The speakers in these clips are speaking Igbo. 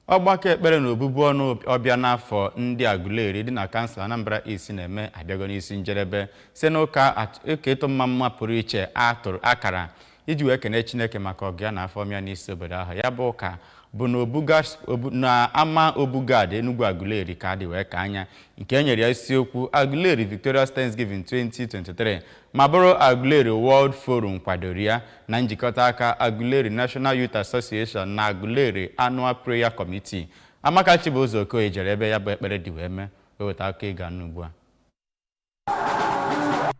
ọgbakọ ekpere na obubu ọnụ ọbịa n'afọ ndị Aguleri dị na kansụl Anambra East na-eme abịago n'isi njedebe site n'ụka at- ụka ịtụ mma mma pụrụ iche a tụrụ akara iji wee kene Chineke maka ọgọ ya na afọ ọma ya n'isi obodo ahụ ya bụ ụka bụ na obuga obu- na ama Obugad Enugwu Aguleri ka a dị wee kaa ya nke e nyere ya isiokwu Aguleri Victorious Thanksgiving 2023 ma bụrụ Aguleri World Forum kwadoro ya na njikọta aka Aguleri National Youth Association na Aguleri Annual Prayer Committee. Amaka Chibụzọ Okoye jere ebe ya bụ ekpere dị wee mee wee weta akụkọ ị ga-anụ ugbu a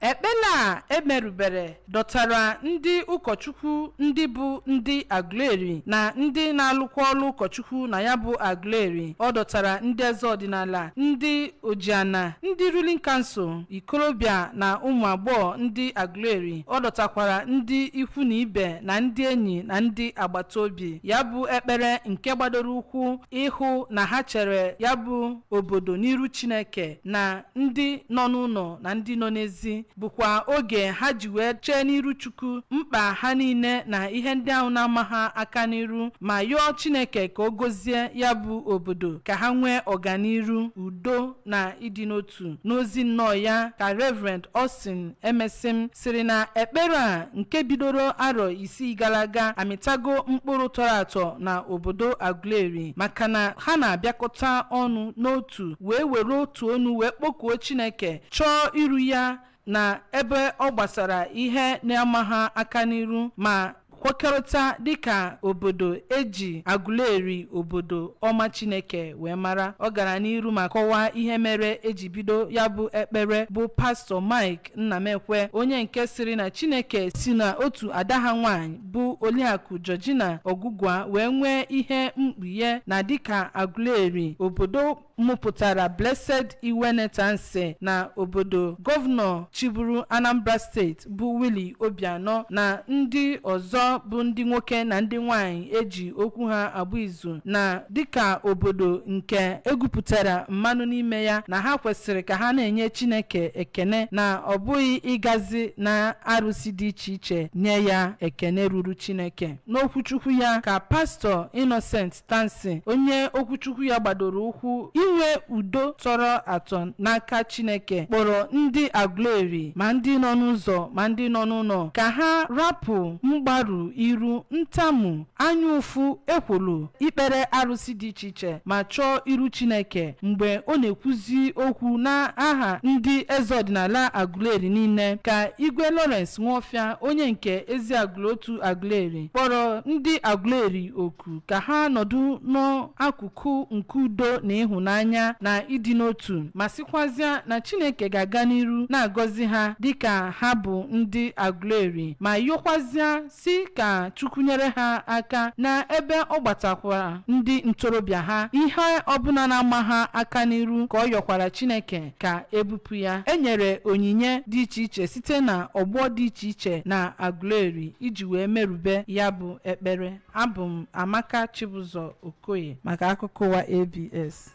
ekpere a e merubere dọtara ndị ụkọchukwu ndị bụ ndị Aguleri na ndị na-alụkwa ọrụ ụkọchukwu na ya bụ Aguleri ọ dọtara ndị eze ọdịnala ndị Ojiana, ndị ruling council, ikolobịa na ụmụ agbọghọ ndị Aguleri. Ọ dọtakwara ndị ikwu na ibe na ndị enyi na ndị agbata obi. Ya bụ ekpere nke gbadoro ụkwụ ịhụ na ha chere ya bụ obodo n'iru Chineke na ndị nọ n'ụnọ na ndị nọ n'ezi. bụkwa oge ha ji wee chee n'iru Chukwu mkpa ha niile na ihe ndị ahụ na-ama ha aka n'iru ma yọọ Chineke ka o gozie ya bụ obodo ka ha nwee ọganiru udo na ịdị n'otu n'ozi nnọọ ya ka Reverend Austin Emesim sịrị na ekpere a nke bidoro arọ isii gara aga amịtago mkpụrụ tọrọ atọ na obodo Aguleri maka na ha na-abịakọta ọnụ n'otu wee were otu onu wee kpọkuo Chineke chọọ iru ya na ebe ọ gbasara ihe na-ama ha aka n'iru ma kwekọrịta dịka obodo e ji Aguleri obodo ọma Chineke wee mara ọ gara n'iru ma kọwaa ihe mere e ji bido ya bụ ekpere bụ pastọ Mike Nnamekwe onye nke sịrị na Chineke si na otu ada ha nwaanyị bụ Oliakụ Georgina Ogugua wee nwee ihe mkpughe na dịka Aguleri obodo mụpụtara Blessed Iwene Tansi na obodo gọvanọ chịburu Anambra steeti bụ Willie Obianọ na ndị ọzọ bụ ndị nwoke na ndị nwanyị e ji okwu ha agba izu na dịka obodo nke e gwupụtara mmanụ n'ime ya na ha kwesịrị ka ha na-enye Chineke ekene na ọ bụghị ịgazi na arụsị dị iche iche nye ya ekene ruru Chineke n'okwuchukwu ya ka pastọ Innocent Tansi, onye okwuchukwu ya gbadoro ụkwụ inwe udo tọrọ atọ n'aka Chineke, kpọrọ ndị Aguleri, ma ndị nọ n'ụzọ ma ndị nọ n'ụnọ, ka ha rapụ mgbaru iru, ntamu, anya ụfụ, ekwolo, ikpere arụsị dị iche iche, ma chọọ iru Chineke. Mgbe ọ na-ekwuzi okwu n'aha ndị eze ọdịnala Aguleri niile, ka Igwe Lawrence Nwofia, onye nke Eziagụlụ Otu Aguleri, kpọrọ ndị Aguleri oku. oku ka ha nọdụ n'akụkụ nke udo na ịhụnanya na ịdị n'otu ma sịkwazịa na Chineke ga-aga n'iru na-agọzi ha dịka ha bụ ndị Aguleri ma yọkwazịa sị ka Chukwu nyere ha aka na ebe ọ gbatakwara ndị ntorobịa ha ihe ọbụla na-ama ha aka n'iru ka ọ yọkwara Chineke ka e bupụ ya e nyere onyinye dị iche iche site na ọgbọ dị iche iche na Aguleri iji wee merube ya bụ ekpere Abụ m Amaka Chibụzọ Okoye maka akụkọ ụwa ABS.